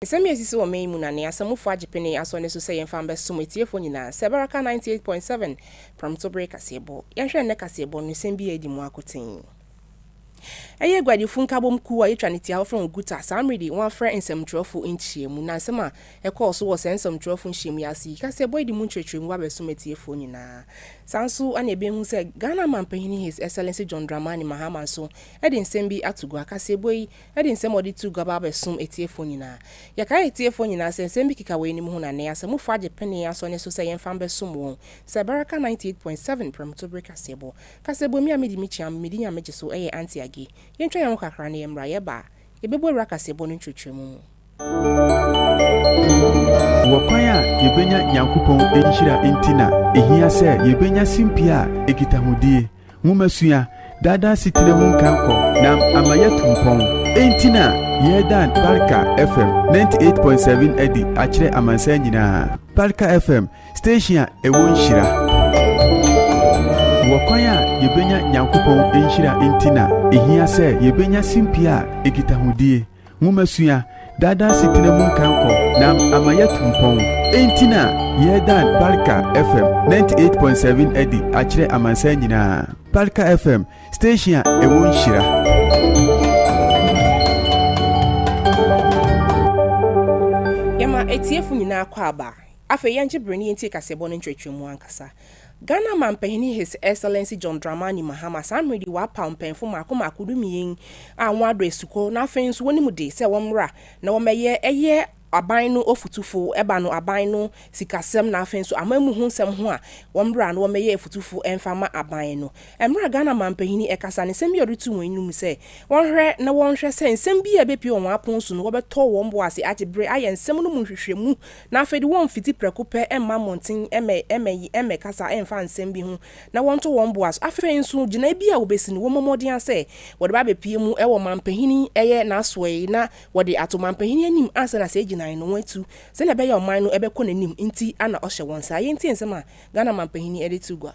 Nsɛm yi a esisi wɔ mmɛ yi mu na nea Asamufoɔ Agyepene Asɔre no su sɛ yɛmfa mbɛsom atiefoɔ nyinaa sɛ Baraka ninety eight point seven Prɔmto Bere Kaseɛbɔ. Yɛnhwɛ nnɛ kaseɛbɔ no nsɛm bi a edi mu akoten. Ɛyɛ aguadifo nkabom kuw a yɛatwa no tiawa frɛ wɔn Guta. Saa mmere de wɔafrɛ nsɛmtwerɛfo nhyiamu na nsɛm a ɛkɔɔ so wɔ saa nsɛmtwerɛfo nhyiamu yi ase yi kaseɛbɔ adi mu nkyerɛkyerɛmu ba bɛsom atiefoɔ nyinaa. Saa nso na yɛbɛhu sɛ Ghana Manpanin His Excellency John Dramani Mahama nso de nsɛm bi ato gua. Kaseɛbɔ yi Ɛde nsɛm a ɔde too gua ba abɛsom atiefo nyinaa. Yɛkae atiefo nyinaa sɛ nsɛm bi keka weinom ho na nnɛ asamufo agye penee asɔ ne so sɛ yɛmfa mbɛsom wɔn. Sɛ bɛra ka 98.7 Prɛmto Bere Kaseɛbɔ. Kaseɛbɔ mi a medi me kyeam, medi Nyame gye so, ɛyɛ Auntie Aggie. Yɛntwa yɛn ho kakra na yɛmmra. Yɛba a, yɛbɛbu awura kaseɛbɔ no nkyerɛkyerɛmu mu. Ɔkwan a yebenya Nyankopɔn nhyira nti na ehia sɛ yebenya simpie a ekita hodie, nwomasua, daadaa setena mu nkankɔ na ama yɛatu mpɔn. Enti na yɛredan Barka FM 98.7 adi akyerɛ amansan nyinaa. Barka FM, station a ɛwɔ nhyira. Wɔ kwan a yebenya Nyankopɔn nhyira nti na ehia sɛ yebenya simpie a ekita hodie, Momma sua daadaa setena mu nkankɔ na ama yɛatu mpɔn. Enti na yɛredan Barika FM 98.7 adi akyerɛ amansan nyinaa. Barika FM, station a ɛwɔ nhyira. Yɛma atiefo nyinaa akwaaba. Afei yɛngye bere na yentie kaseɛbɔ no nkyerɛkyerɛmu ankasa. Ghana Manpanin His Excellency John Dramani Mahama saa mmerɛ yi wɔapaw mpanyinfo mmaako mmaako dumien a wɔn adɔ asukɔ na afei nso wɔnim de sɛ wɔmmra na wɔmmɛyɛ ɛyɛ aban no ɔfotufo ɛba no aban no sikasɛm na afei nso amanmu ho nsɛm ho a wɔmmra na wɔmmɛyɛ afotufo ɛmfa ma aban no. Mmerɛ a Ghana Manpanin yi ɛkasa no nsɛm bi a ɔde too wɔn anim no sɛ wɔnhwɛ na wɔnhwɛ sɛ nsɛm bi a ɛbɛpue wɔ wɔn apon so no wɔbɛtɔ wɔn bo ase agye berɛ ayɛ nsɛm no mu nhwehwɛmu Na afei de wɔmfiti prɛko pɛ mma mmɔnten mmɛkasa mfa nsɛm bi ho na wɔnto wɔn bo ase. Afei nso, gyinae bi a wobesi no, wɔmmɔ mmɔden ara sɛ wɔde bɛabepue mu wɔ manpanin yɛ n'asoɛe na wɔde ato manpanin anim ansa na saa gyinae no wɔatu sɛnea ɛbɛyɛ a ɔman no bɛkɔ n'anim nti na ɔhyɛ wɔn saa. Yɛntie nsɛm a Ghana manpanin de too gua.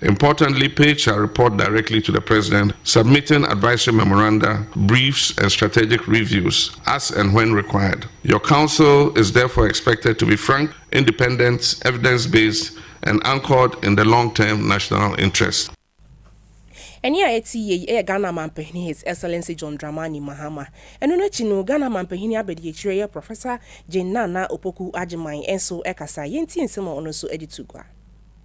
Importantly, page shall report directly to the President, submitting advisory memoranda, briefs and strategic reviews as and when required. Your Council is therefore expected to be frank, independent, evidence-based and anchored in the long-term national interest. Ɛnne a ɛte yie yi yɛ Ghana Mampanin His Excellency John Dramani Mahama. Ɛno no akyi no, Ghana Mampanin Abadiakyire yɛ Professor Jane Nana Opoku Agyemang nso kasaeɛ. Yɛntie nsɛm a ɔno nso de to gua.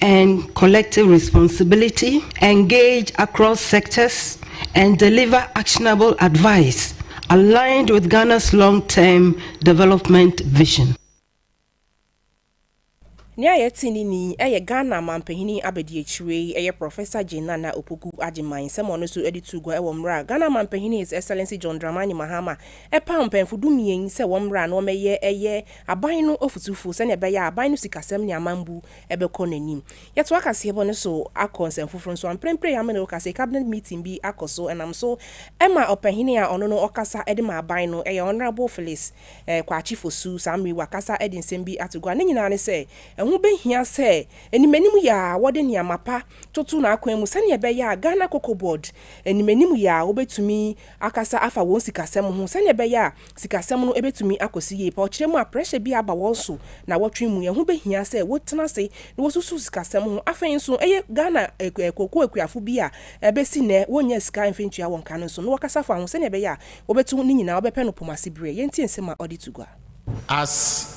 and collective responsibility, engage across sectors and deliver actionable advice aligned with Ghana's long-term development vision. Nea yɛte ne ni yɛ Ghana Manpanyin Abadiakyire yi yɛ Professor Jane Nana Opoku Agyeman nsɛm a ɔno nso de too gua wɔ mmerɛ a Ghana Manpanyin His Excellency John Dramani Mahama paw mpanyimfo dumien sɛ wɔmmra na wɔmmɛyɛ ɛyɛ Aban no ɔfotufo sɛnea ɛbɛyɛ a aban no sikasɛm ne amambu bɛkɔ n'anim. Yɛtoa kaseɛbɔ no so akɔ nsɛm foforo nso a mprempren Yame ne wo kasa yi cabinet meeting bi akɔ so ɛnam so ma ɔpanyin a ɔno no ɔkasa de ma aban no ɛyɛ Honourable Phyllis Kwakye Fosu saa mmere yi wakasa de nsɛm bi ato gua ne nyinaa ne sɛ ɛho bɛhia sɛ animanim yɛ a wɔde nneɛma pa toto n'akwan mu sɛnea ɛbɛyɛ a Ghana Cocoa Board animanim yɛ a wɔbɛtumi akasa afa wɔn sikasɛm ho sɛnea ɛbɛyɛ a Sikasɛm no betumi akɔ so yie pa ɔkyena mu a pressure bi aba wɔn so naawɔtwe mu. Ɛho behia sɛ wotena ase na wosusuw sikasɛm ho. Afei nso, ɛyɛ Ghana kooko akuafo bi a ɛbesi nnɛ wonnyaa sika mfa ntua wɔn ka no nso no, wɔkasa fa ho sɛnea ɛbɛyɛ a wobetu ne nyinaa, wɔbɛpɛ no poma ase bere a yɛnte nsɛm a ɔde to gua. As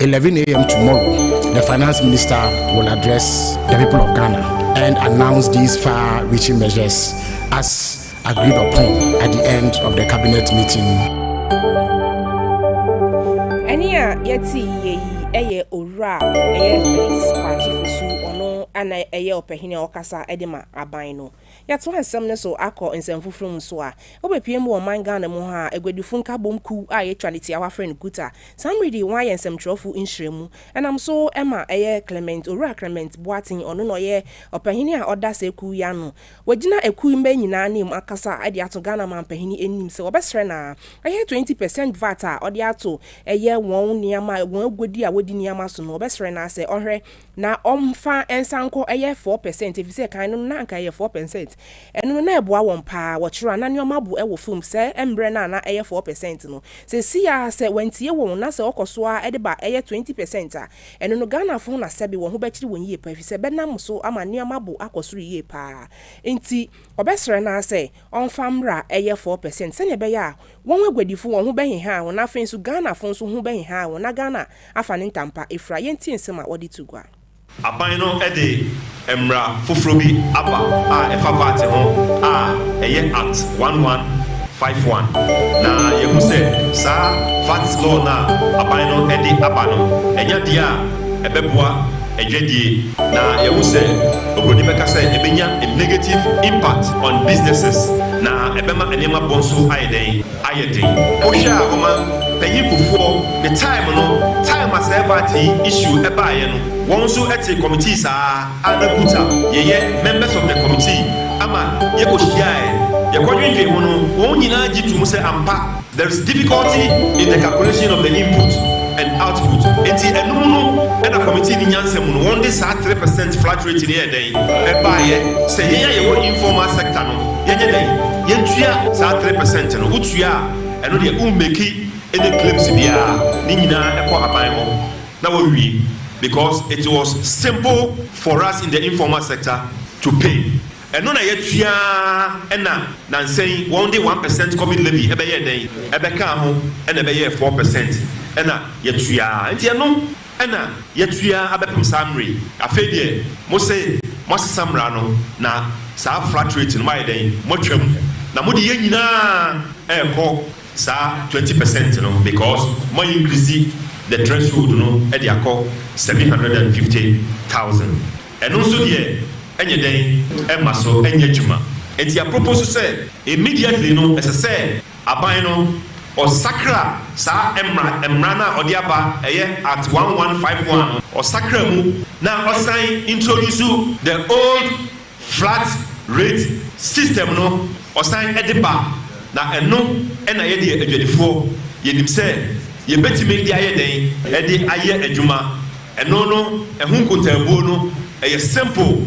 11 a.m. tomorrow, the Finance Minister will address the people of Ghana and announce these far reaching measures as agreed upon at the end of the Cabinet meeting. ɛne a yɛte yie yi ɛyɛ owura a ɛyɛ felix kwakye fosu ɔno ana ɛyɛ ɔpɛhene a ɔkasa de ma aban no Yɛtoa nsɛm no so akɔ nsɛm foforo mu nso a, wobepue mu wɔ ɔman Ghana mu ha a, aguadifo nkabom kuw a yɛatwa ne tiawa frɛ no Guta. Saa mmere de, wɔayɛ nsɛmkyerɛwfo nhyiamu. Ɛnam so ma ɛyɛ Clement, Owura Clement Boateng, ɔno na ɔyɛ ɔpanyin a ɔda saa kuw yi ano. Wagyina akuw yi mma nyinaa anim akasa de ato Ghana manpanyin anim sɛ wɔbɛsrɛ no ara ɛyɛ twenty per cent vat a ɔde ato ɛyɛ wɔn nneɛma, wɔn aguadi a wodi nneɛma so no, wɔbɛsrɛ no ara sɛ ɔnhwɛ Na wɔmfa nsa nkɔ ɛyɛ four percent efisɛ kan no na anka ɛyɛ four percent. Ɛno no na ɛboa wɔn pa ara. Wɔkyerɛ a na nneɛma bo wɔ fam sɛ mmerɛ no a na ɛyɛ four percent no. Seesei ara sɛ wɔantie wɔn na sɛ wɔkɔ so ara de ba ɛyɛ twenty percent a, ɛno no Ghanafo ho na sɛbe wɔn ho bɛkyere wɔn yie pa efisɛ bɛnam so ama nneɛma bo akɔ soro yie pa ara. Enti wɔbɛsrɛ no ara sɛ ɔmfa mmra ɛyɛ four percent sɛdeɛ ɛbɛyɛ a wɔn aguadifo wɔn ho bɛhehaa wɔn na afei nso Ghanafo nso ho bɛhehaa wɔn na Ghana afa ne ntampa afura, yɛntie nsɛm a wɔde to gua. Aban no de mmara foforɔ bi aba a ɛfa vat ho a ɛyɛ Act one one five one, na yɛahu sɛ saa vat law no a aban no de aba no, ɛnyɛ adeɛ a ɛbɛboa adwadie, na yɛahu sɛ obroni bɛka sɛ ɛbɛnya a negative impact on businesses, na ɛbɛma nneɛma bɔ nso ayɛ dɛn? ayɛ den. Wo hwɛ a ɔman panyin Kufuor ne time no time a saa ɛbaate yi issue ɛbaayɛ no wɔn nso ɛtee committee saa a na Kut a yɛyɛ members of the committee ama yɛ kɔ hyiaaɛ yɛ kɔ dwendwen ho no wɔn nyinaa gye tum sɛ ampa there is difficulty in the calculation of the input and output nti ɛno mu no ɛna committee no nyansa mu no wɔn de saa three percent flat rate no yɛɛ dɛn ɛbaayɛ sɛ yɛn a yɛwɔ informal sector no Yɛnyɛ dɛn? Yɛntua saa three percent no. Wotua a, ɛno deɛ wo mmeki any claims biara. Ne nyinaa kɔ aban hɔ na wɔwie because it was simple for us in the informal sector to pay. Ɛno na yɛtua ara ɛna nansa yi wɔn de one percent covid levy ɛbɛyɛɛ dɛn? Ɛbɛkaa ho ɛna ɛbɛyɛɛ four percent ɛna yɛtua ara. Nti ɛno Ɛna yɛatua abɛpem saa mmerɛ yi. Afei deɛ mose moasesa mmara no, na saa flat rate no moayɛ dɛn? Moatwa mu, na mode yɛn nyina ara rekɔ saa twenty percent no because moa increase the threshold no de akɔ seven hundred and fifty thousand. Ɛno nso deɛ ɛnyɛ dɛn? Ɛmma so nyɛ adwuma. Enti yɛapropose sɛ immediately no ɛsɛ sɛ. Aban no, ɔsakra saa mmra mmara no a ɔde aba, ɛyɛ Act one one five one no, ɔsakra mu na ɔsan introduce the old flat rate system no, ɔsan de ba, na ɛno na yɛdeɛ adwadifoɔ yɛnim sɛ yɛbɛtumi de ayɛ dɛn? De ayɛ adwuma. Ɛno no, ɛho nkotaabuo no, ɛyɛ simple.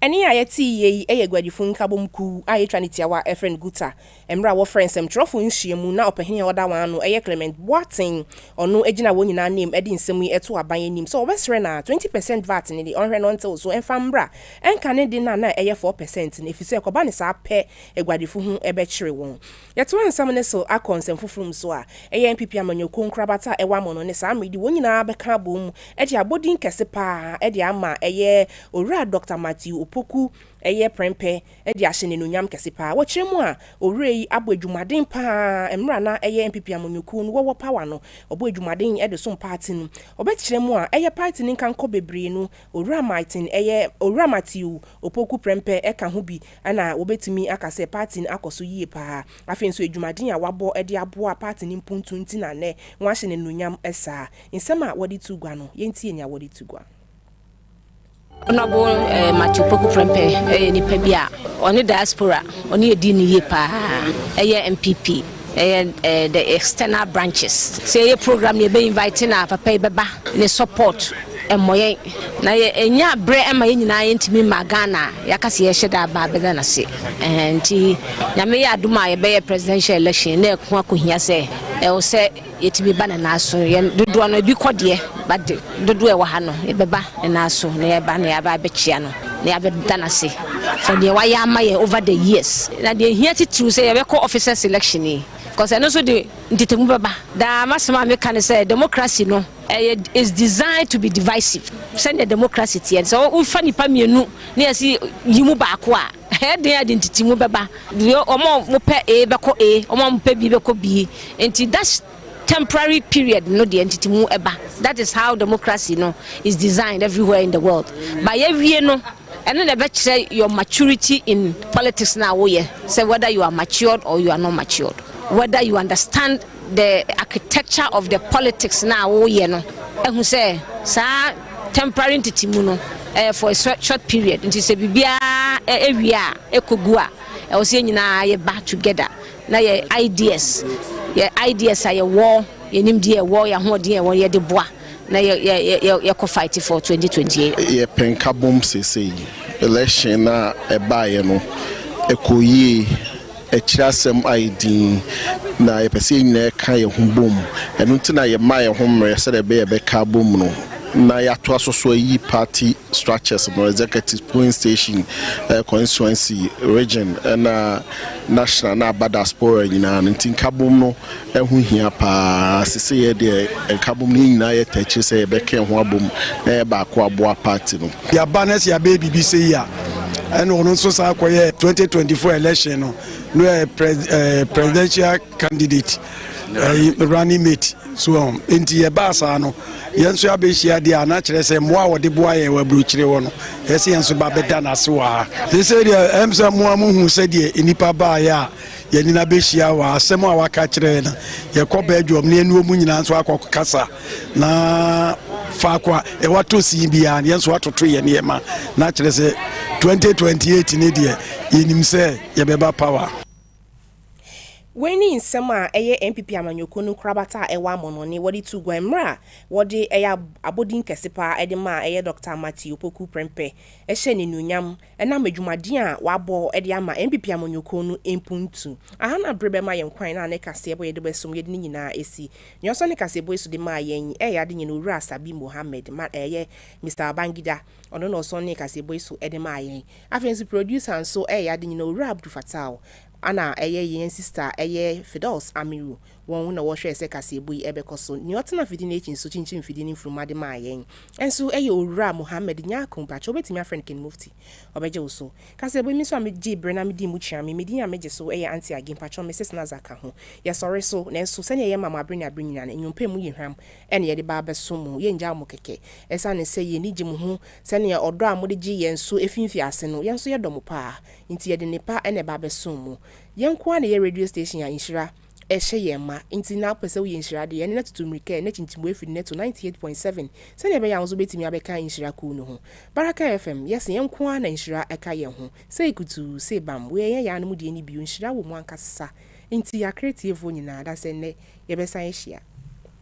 Ɛnne a yɛteeɛ yi yɛ Aguadifo Nkabom Kuw a yɛtwa ne tiawa a yɛfrɛ no Guta. Mmerɛ a wɔfrɛ nsɛmtwerɛfoɔ nhyiamu na ɔpahini a ɔda wɔn ano yɛ Clement Boateng, ɔno gyina wɔn nyinaa anam de nsɛm yi to aban anim sɛ ɔbɛsrɛ na 20 percent vat no de ɔnhwɛ na ɔntew so mfa mmra nka ne de no a na ɛyɛ 4 percent no ɛfiri sɛ ɛkɔba no saa pɛ aguadifo ho bɛkyere wɔn. Yɛtoa nsɛm no so akɔ nsɛm foforo mu nso a, ɛyɛ NPP amanyɔkuo nkorabata a ɛwɔ amono ne saa mmerɛ yi wɔn nyinaa bɛka abom de abɔ din kɛse pa ara de ama ɛyɛ Owura Dɔkta Matthew Opoku ɛyɛ prɛmpɛ de ahyɛ no anuonyam kɛse pa ara. Wɔkyerɛ mu a, Owura yi abɔ adwumaden pa ara mmerɛ a na ɛyɛ NPP amanyɔkuo no wɔwɔ power no, ɔbɔ adwumaden de som party no. Wɔbɛkyerɛ mu a, ɛyɛ party no nkankɔ bebree no, Owura Martin ɛyɛ Owura Matthew Opoku prɛmpɛ ka ho bi. Ɛnna wobetumi aka sɛ paati no akɔ so yie paa. Afei nso, adwumaden a wɔabɔ de aboa paati no mpuntuo nti na nnɛ wɔahyɛ no anuonyam saa. Nsɛm a wɔde to gua no, yɛntie nea wɔde to gua. Honourable Matthew Poku Prempeh yɛ nipa bi a ɔne diaspora ɔne yɛ di no yie paa. Ɛyɛ NPP. Ɛyɛ ɛɛ the external branches. Sɛ yɛyɛ program no yɛbɛ invite no a papa yi bɛba ne support mmɔ yɛn na yɛ ɛnya brɛ ɛma yɛn nyinaa yɛn ntumi mmaa Ghana a yɛaka sɛ yɛhyɛ da aba abɛda no ase ɛhɛn nti Nyame yɛ adom a yɛbɛyɛ presidential election na ɛko akɔhia sɛ ɛwɔ sɛ Yɛtumi ba ne nan so. Yɛn dodoɔ no, ebi kɔ deɛ, but dodoɔ a ɛwɔ ha no, yɛbɛba ne nan so, na yɛba na yɛaba abɛkyia no, na yɛabɛda no ase for deɛ wayɛ ama yɛn over the years. Na deɛ ɛhia titiriw sɛ yɛbɛkɔ officers election yi, because ɛno nso de ntetemu bɛba. Daa m'asɛm a meka ne sɛ, democracy no, ɛyɛ is designed to be divisive. Sɛdeɛ democracy teɛ no, sɛ wofa nnipa mmienu na yɛse yi mu baako a, Ɛyɛ den a ɛde ntetemu bɛba. Wɔn a wɔpɛ A bɛkɔ A, wɔn a wɔpɛ B bɛkɔ B. Nti that temporary period no deɛ ntetemu ba. That is how democracy no is designed everywhere in the world. But yɛwie no, ɛno na ɛbɛkyerɛ your maturity in politics no a woyɛ sɛ whether you are matured or you are not matured, whether you understand the architecture of the politics no a woyɛ no ahu sɛ saa temporary ntetemu no ɛyɛ for a short period nti sɛ biribiara ɛwie a ɛkɔgu a ɛwɔ sɛ yɛn nyinaa yɛ ba together na yɛ ideas yɛ ideas a yɛwɔ yɛnim deɛ ɛwɔ yɛ ahoɔden ɛwɔ yɛde boa na yɛ yɛ yɛ yɛkɔ fight for 2028. yɛ pɛnkabom sese election a ɛbaeɛ no ɛkɔ yie. Akyiri asɛm ayɛ dinn, na yɛpɛ sɛ yɛn nyinaa ka yɛn ho bom. Ɛno nti na yɛmaa yɛn ho mmerɛ sɛdeɛ ɛbɛyɛ a yɛbɛka abom no na yɛatoa so so ayi party structures no, executives, polling station, constituency, region, ɛna national na aba diaspora nyinaa no. Nti nkabom no. Ɛho hia paa. Seseiɛ deɛ nkabom no yɛn nyinaa yɛ tɛkyere sɛ yɛbɛka yɛn ho abom na yɛyɛ baako aboa party no. Yɛaba na sɛ yɛabɛyɛ biribi sei a, ɛna ɔno nso san kɔyɛ 2024 election no no eh, pres, eh, presidential candidate eh, running mate so um, nti yɛbaa saa no yɛn nso yɛabɛhyia deɛ a na kyerɛ sɛ mmoa a wɔde boa yɛ wɔ aburokyire hɔ no yɛsɛ yɛn nso ba bɛda no ase wɔ ha. Sesei deɛ ɛm sɛ mmoa mohu sɛdeɛ nnipa baeɛ a yɛn nyinaa bɛhyia wɔ asɛm a waka kyerɛ yɛn na yɛkɔ bɛdwom ne ɛnuo mu nyinaa nso akɔ kasa na faako a ɛwatɔ sin biara yɛn nso atoto yɛn nneɛma na kyerɛ sɛ 2028 ne deɛ yɛnim sɛ yɛbɛba power Wei ne nsɛm a ɛyɛ NPP amanyɔkuo no nkorabata a ɛwɔ amɔnɔne wɔde tuu guan mmerɛ a wɔde ɛyɛ abɔdin kɛse paa de maa ɛyɛ Dɔkta Matthew Opoku Prempeh hyɛ n'anuonyam Ɛnam adwumaden a wabɔ de ama NPP amanyɔkuo no mpuntu a na bere bɛma yɛn kwan na ne kaseɛbɔ yɛde bɔ asom yɛde ne nyinaa asi. Nea ɔsɔ ne kaseɛbɔ yi so de maa yɛn yi yɛ ade nyɛ no Owura Asabi Mohammed ma ɛyɛ Mister Babangida ɔno na ɔsɔ ne kaseɛbɔ yi so de maa yɛn. Afei nso producer nso yɛ ade nyɛ no Owura Abdul Fattau ɛna ɛyɛ yɛn sister ɛyɛ Firdaus Amiru Wɔn na wɔhwɛɛ sɛ kaseɛbɔ yi bɛkɔ so. Nea ɔtena afidi no akyi nso kyinkyim mfidie no mfunuma de maa yɛn. Nso ɛyɛ Owura Mohammed Nyarko. Mpakyɛ wobɛtumi afrɛ no King Mufti. Ɔbɛgye wo so. Kaseɛbɔ yi me nso a megyee berɛ na medii mu kyeame. Me din a megye so yɛ Auntie Aggie. Mpakyɛ me sis Nazah ka ho. Yɛsɔre so. Nanso sɛdeɛ yɛma mo abere ne abere nyinaa no, nnwompa mu yɛ hwam na yɛde ba abɛso mo. Yɛnngyaw mo kɛkɛ. Ɛsiane sɛ yɛn ani gye mo ho sɛdeɛ ɔdɔ a mode gyee yɛn so ɛfiri mfiase no, yɛn nso yɛdɔ mo paa. Nti yɛde nnepa na ɛba abɛso mo. Yɛn nko ara na ɛyɛ radio station a nhyira. ɛhyɛ yɛn ma nti na wopɛ sɛ woyɛ nhyira de, ɛnde na tutu mmirika na kyinkyim wo afiri no na to 98.7 sɛnea ɛbɛyɛ a wo nso wobɛtumi abɛka nhyira kuw no ho. Baraka FM, yɛse yɛn nko ara na nhyira ɛka yɛn ho. Sei kutuu, sei bam, wei ɛnyɛ yɛn anom deɛ ne bio, nhyira wɔ mu ankasa. Nti yɛakra atiefoɔ nyinaa da sɛ nnɛ yɛbɛsan ahyia.